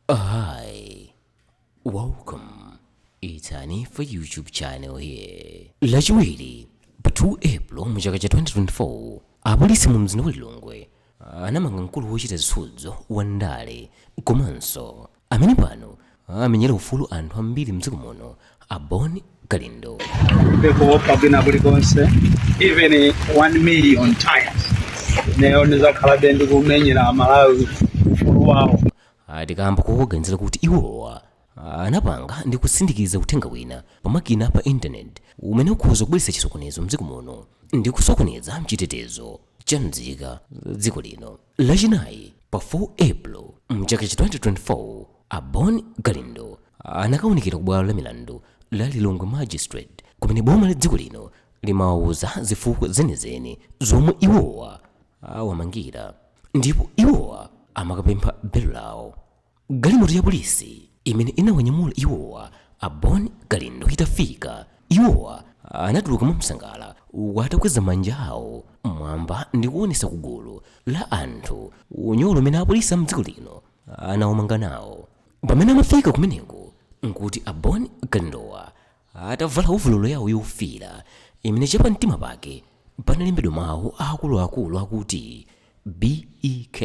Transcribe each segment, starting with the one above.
Hi, welcome. It's Hanifa YouTube channel here. Lachiwiri pa 2 April mu chaka cha 2024 apolisi mu mzinda wa Lilongwe anamanga mkulu wochita zisudzo wa ndale komanso amene pano akumenyera ufulu anthu ambiri mdziko muno a Bon Kalindo. pekuopa kwina kulikonse even 1 million times nayo ndizakhalabe ndikumenyera amalawi ufulu wawo ati kaamba kowaganizira kuti iwowa anapanga ndi kusindikiza uthenga wina pa makina a pa internet umene ukhoza kubweretsa chisokonezo mdziko muno ndi kusokoneza chitetezo cha mzika za dziko lino. Lachinayi pa 4 April mchaka cha 2024, a Bon Kalindo anakaonekera ku bwalo la milandu la Lilongwe Magistrate kumene boma la dziko lino limawauza zifukwa zenizeni zomwe iwowa awamangira ndipo iwowa amakapempha belo lawo galimoto ya polisi imene inawanyamula iwowa a bon kalindo itafika iwowa anatuluka mwansangala uku atakweza manja awo mwamba ndi kuonesa ku gulu la anthu unyolo umene apolisi a mdziko lino anawamanga nawo pamene amafika kumeneko nkuti a bon kalindowa Atavala ovololo yawo yofiira imene chapamtima pake panalembedwa mawu aakuluakulu akuti BEK,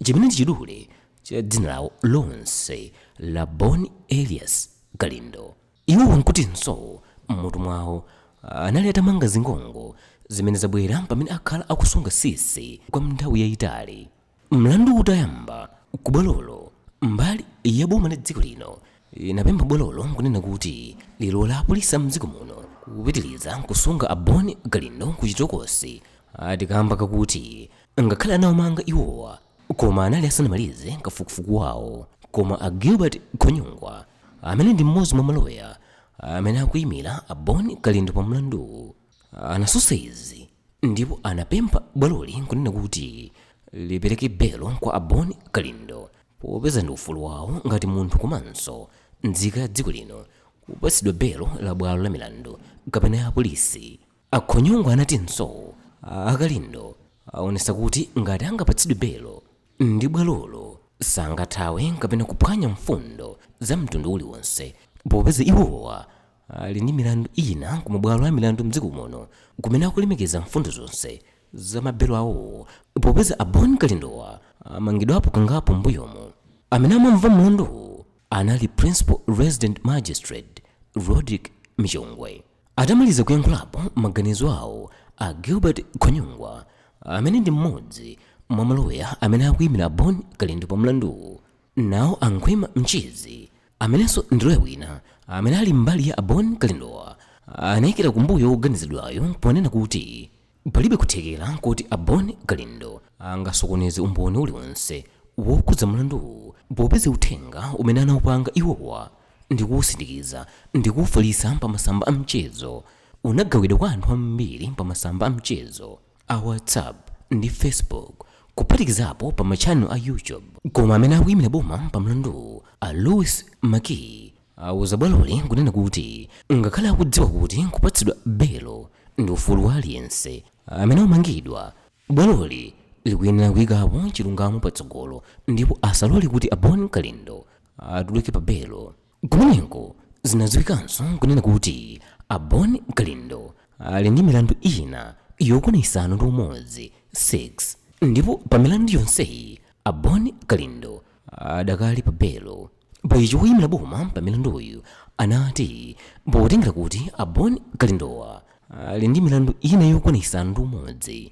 chimene ndi chidule cha dzina lawo lonse la Bon Elias Kalindo, iwowa n'kutinso m'mutu mwawo anali atamanga zingongo zimene zabwera pamene akhala akusunga sisi kwa nthawi yaitali. Mlanduwu utayamba ku bwalolo, mbali ya boma la dziko lino inapempha bwalolo n'kunena kuti lilole apolisi a m'dziko muno kupitiriza kusunga a Bon Kalindo ku chitokosi ati kaamba kakuti ngakhale anawamanga iwowa, koma anali asanamalize kafukufuku wawo. Koma a Gilbert Khonyongwa, amene ndi mmodzi mwa maloya amene akuimira a Bon Kalindo pa mlanduwu, anatsutsa izi. ndipo anapempha bwaloli kunena kuti lipereke belo kwa a Bon Kalindo popeza ndi ufulu wawo ngati munthu komanso nzika ya dziko lino kupatsidwa belo la bwalo la milandu kapena ya polisi. A Khonyongwa anatinso a Kalindo aonesa kuti ngati angapatsidwe belo ndi bwalolo sangathawe kapena kuphwanya mfundo za mtundu uliwonse popeza iwowa ali ndi milandu ina ku mabwalo a milandu m'dziko muno kumene akulemekeza mfundo zonse za mabelo awowo popeza a Bon Kalindowa amangidwapo kangapo m'mbuyomu. Amene amamva mlanduwu anali Principal Resident Magistrate Rodrick Michongwe. Atamaliza kuyankhulapo maganizo awo, a Gilbert Khonyongwa amene ndi mmodzi mwa maloya amene akuyimira a Bon Kalindo pa mlanduwu Nawo a Khwima Mchizi, amenenso ndi loya wina amene ali mbali ya a Bon Kalindowa, anaikira kumbuyo woganiziridwayu ponena kuti palibe kuthekera koti a Bon Kalindo angasokoneze umboni uliwonse wokhudza mlanduwu popeza uthenga umene anaupanga iwowa ndi kuusindikiza ndi kuufalitsa pa masamba a mchezo unagawidwa kwa anthu ambiri pa masamba a mchezo. a whatsapp ndi facebook kuphatikizapo pa matchanelo a youtube koma amene akuyimira boma pa mlanduwu a louis makiyi awuza bwaloli kunena kuti ngakhale akudziwa kuti kupatsidwa belo ndi ufulu wa aliyense amene amangidwa bwaloli likuyenera kuyikapo chilungamo patsogolo ndipo asalole kuti a bon kalindo atuluke pa belo Kumeneko zinadziwikanso kunena kuti a Bon Kalindo ali ndi milandu ina yokwana isanu ndi umodzi, 6, ndipo pa milandu yonseyi a Bon Kalindo adakali pa belo. Pa ichi woyimira boma pa mlanduyu anati potengera kuti a Bon Kalindowa ali ndi milandu ina yokwana isanu ndi umodzi,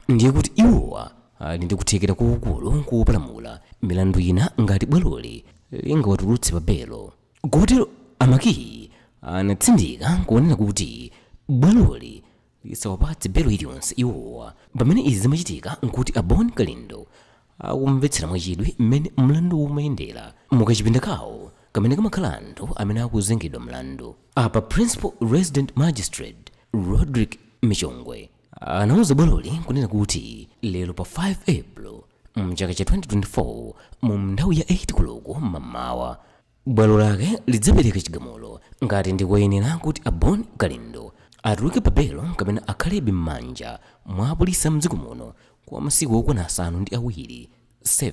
ndiye kuti iwowa ali ndi kuthekera kwakukulu kopalamula milandu ina ngati bwaloli lingawatulutse pa belo kotero a makiyi anatsindika kunena kuti bwaloli lisawapatse belo iliyonse iwowa pamene izi zimachitika nkuti a bon kalindo akumvetsera mwachidwi mmene mlandu umayendera mukachipinda kawo kamene kamakhala anthu amene akuzengedwa mlandu apa principal resident magistrate roderick michongwe anauza bwaloli kunena kuti lero pa 5 april mchaka cha 2024 mu nthawi ya 8 koloko m'mamawa bwalo lake lidzapereka chigamulo ngati ndikoyenera kuti a bon kalindo atuluke pa belo kapena akhalebe m'manja mwa apolisi a mdziko muno kwa masiku okwana asanu ndi awiri 7,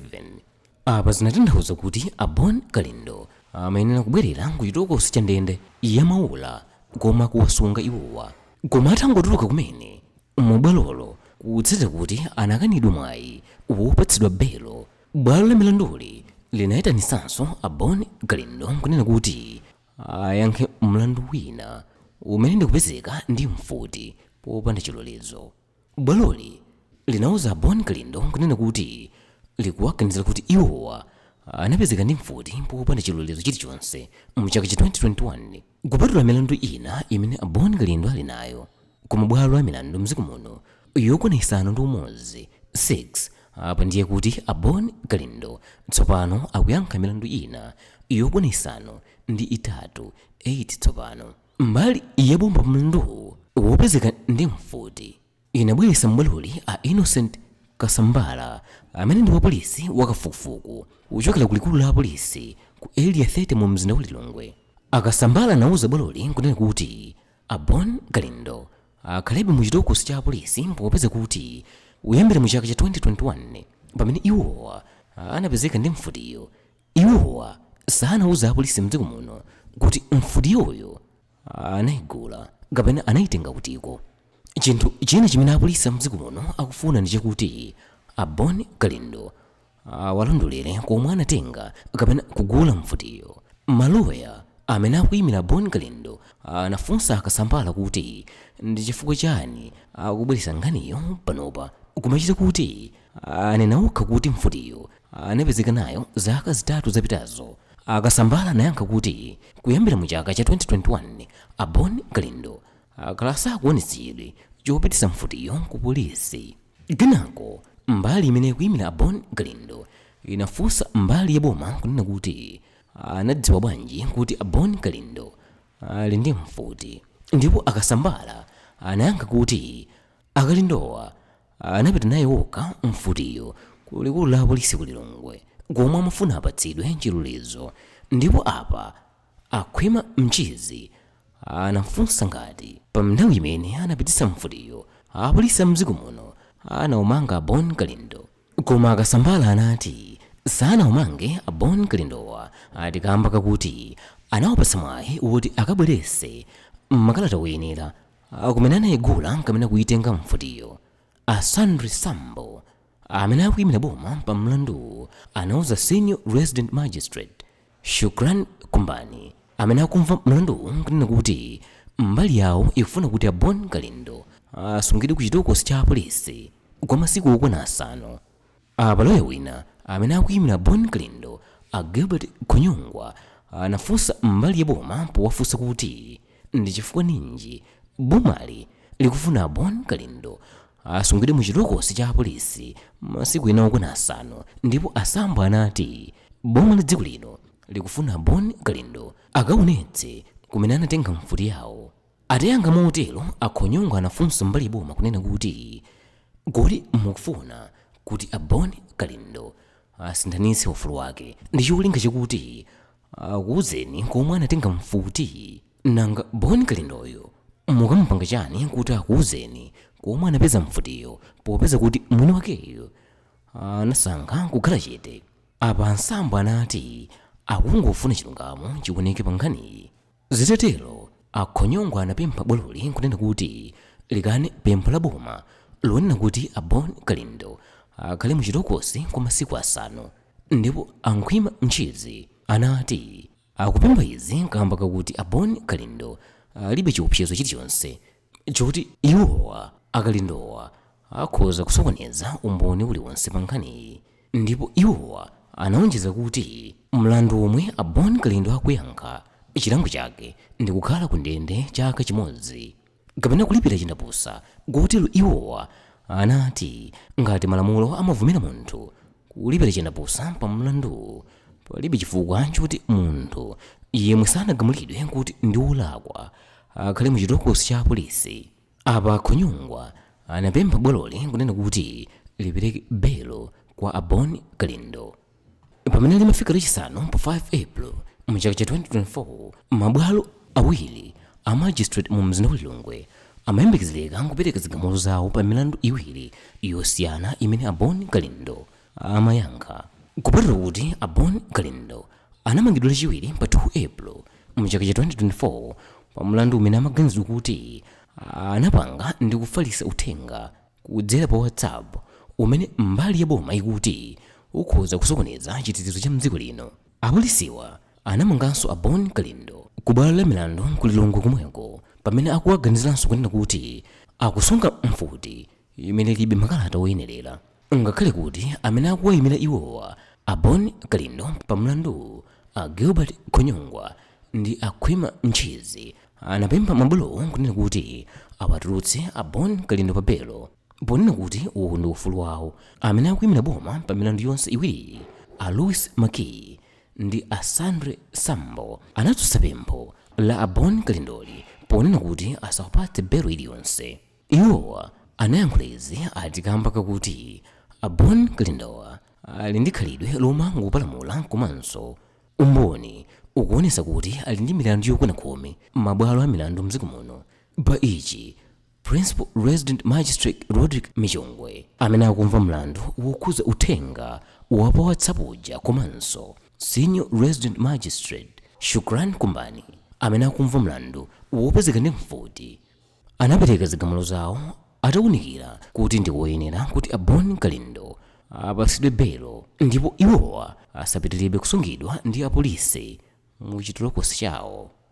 Apa zinatanthauza kuti a Bon Kalindo amayenera kubwerera ku chitokosi cha ndende ya Maula komwe akuwasunga iwowa. Koma atangotuluka kumene mu bwalolo kutsatira kuti anakanidwa mwayi wopatsidwa belo, bwalo la milanduli linaitanitsanso a Bon Kalindo n'kunena kuti ayankhe mlandu wina umene ndi kupezeka ndi mfuti popanda chilolezo. Bwaloli linauza a Bon Kalindo kunena kuti likuwaganizira kuti iwowa anapezeka ndi mfuti popanda chilolezo chilichonse mu chaka cha 2021. Kupatula milandu ina imene a Bon Kalindo ali nayo ku ma bwalo a milandu mdziko muno yokwana isanu ndi umodzi, 6, apa ndiye kuti a Bon Kalindo tsopano akuyankha milandu ina yokwana isanu ndi itatu, 8, tsopano. Mbali ya boma pa mlanduwu wopezeka ndi mfuti inabweretsa m'bwaloli a Innocent Kasambara amene ndi wapolisi wa kafukufuku kuchokera ku likulu la apolisi ku Area 30 mu mzinda wa Lilongwe. A Kasambara anauza bwaloli n'kunena kuti a Bon Kalindo akhalebe mu chitokosi cha apolisi popeza kuti kuyambira mu chaka cha 2021 pamene iwowa anapezeka ndi mfutiyo, Iwowa sanauze apolisi mdziko muno kuti mfutiyoyo anaigula kapena anaitenga kutiko. Chinthu china chimene apolisi a mdziko muno akufuna ndi chakuti a Bon Kalindo awalondolere komwe anatenga kapena kugula mfutiyo. Maloya amene akuimira a Bon Kalindo anafunsa a Kasambara kuti ndi chifukwa chani akubweretsa nkhaniyo panopa kumachita kuti anena okha kuti mfutiyo anapezeka nayo zaka zitatu zapitazo, a Kasambara anayankha kuti kuyambira mu chaka cha 2021, a Bon Kalindo akhala sakuonetsa chidwi chopititsa mfutiyo ku polisi. Kenako mbali imene ikuyimira a Bon Kalindo inafunsa mbali ya boma kunena kuti anadziwa bwanji kuti a Bon Kalindo ali ndi mfuti, ndipo a Kasambara anayankha kuti a Kalindowa Anapita nayo okha mfutiyo ku likulu la apolisi ku Lilongwe komwe amafuna apatsidwe chilolezo ndipo apa a Khwima Mchizi anafunsa ngati pa nthawi imene anapititsa mfutiyo apolisi a mdziko muno anawamanga a Bon Kalindo koma a Kasambara anati sanawamange a Bon Kalindowa ati kamba kakuti anawapatsa mwayi woti akabweretse makalata oyenera A kumene anaigula kapena kuitenga mfutiyo, a Sandri Sambo, amene akuimira boma pa mlanduwu, anauza Senior Resident Magistrate Shukran Kumbani, amene akumva mlanduwu, kunena kuti mbali yawo ikufuna kuti a Bon Kalindo asungidwe ku chitokosi cha apolisi kwa masiku okwana asanu. Apa loya wina amene akuyimira Bon Kalindo a Gilbert Khonyongwa anafunsa mbali ya boma powafunsa kuti ndi chifukwa ninji bomali likufuna a Bon Kalindo asungidwe mu chitokosi cha apolisi masiku ena okwana asanu ndipo a Sambo anati boma la dziko lino likufuna a Bon Kalindo akaonetse kumene anatenga mfuti yawo. Atayankha motero, a Khonyongwa anafunsa mbali ya boma kunena kuti, Kodi mukufuna kuti a Bon Kalindo asinthanitse ufulu wake ndi cholinga chakuti akuuzeni komwe anatenga mfuti? Nanga Bon Kalindoyo mukamupanga chani kuti akuuzeni komwe anapeza mfutiyo popeza kuti mwini wakeyo anasankha kukhala chete? Apa a Sambo anati akungofuna chilungamo chioneke pa nkhaniyi. Zitatero, a Khonyongwa anapempha bwaloli kunena kuti likane pempho la boma lonena kuti a Bon Kalindo akhale mu chitokosi kwa masiku asanu ndipo a Khwima Ntchizi anati akupempha izi kamba kakuti a Bon Kalindo alibe chiopsezo chilichonse choti iwowa a Kalindowa akhoza kusokoneza umboni uliwonse pa nkhaniyi ndipo iwowa anaonjeza kuti mlandu womwe a Bon Kalindo akuyankha chilango chake ndi kukhala ku ndende chaka chimodzi kapena kulipira chindapusa kotero iwowa anati ngati malamulo amavumira munthu kulipira chindapusa pa mlanduwu palibe chifukwa choti munthu yemwe sanagamulidwe kuti ndi wolakwa akhale mu chitokosi cha apolisi. Apa a Khonyongwa anapempha bwaloli kunena kuti lipereke belo kwa a Bon Kalindo. Pamene limafika lachisanu pa 5 April mu chaka cha 2024, mabwalo awiri a magistrate mu mzinda wa Lilongwe amayembekezereka kupereka zigamulo zawo pa milandu iwiri yosiyana imene a Bon Kalindo, amayankha. Kupatula kuti a Bon Kalindo anamangidwa lachiwiri pa 2 April mchaka cha 2024 pa mlandu umene amaganizidwa kuti anapanga ndi kufalisa uthenga kudzera pa WhatsApp umene mbali ya boma ikuti ukhoza kusokoneza chitetezo cha mdziko lino, apolisiwa anamanganso a Bon Kalindo ku bwalo la milandu ku Lilongwe komweko pamene akuwaganiziranso kunena kuti akusunga mfuti imene ilibe makalata oyenerera. Ngakhale kuti amene akuwayimira iwowa, a Bon Kalindo pa mlanduwu, a Gilbert Khonyongwa ndi a Khwima Ntchizi, anapempha mabwalowo kunena kuti awatulutse a Bon Kalindo pa belo ponena kuti uwu ndi ufulu wawo, amene akuyimira boma pa milandu yonse iwiriyi, a Louis Makiyi ndi a Sandry Sambo, anatsutsa pempho la a Bon Kalindoli ponena kuti asawapatse belo iliyonse. Iwowa anayankhula izi ati kamba kakuti a Bon Kalindowa ali ndi khalidwe lomangopalamula komanso umboni ukuonesa kuti ali ndi milandu yokwana khumi m'mabwalo a milandu mdziko muno. Pa ichi, Principal Resident Magistrate Rodrick Michongwe amene akumva mlandu wokhuza uthenga wa pa WhatsApp uja komanso Senior Resident Magistrate Shukrani Kumbani amene akumva mlandu wopezeka ndi mfuti, anapereka zigamulo zawo ataunikira kuti ndi koyenera kuti a Bon Kalindo apatsidwe belo ndipo iwowa asapitirebe kusungidwa ndi apolisi mu chitolokosi chawo.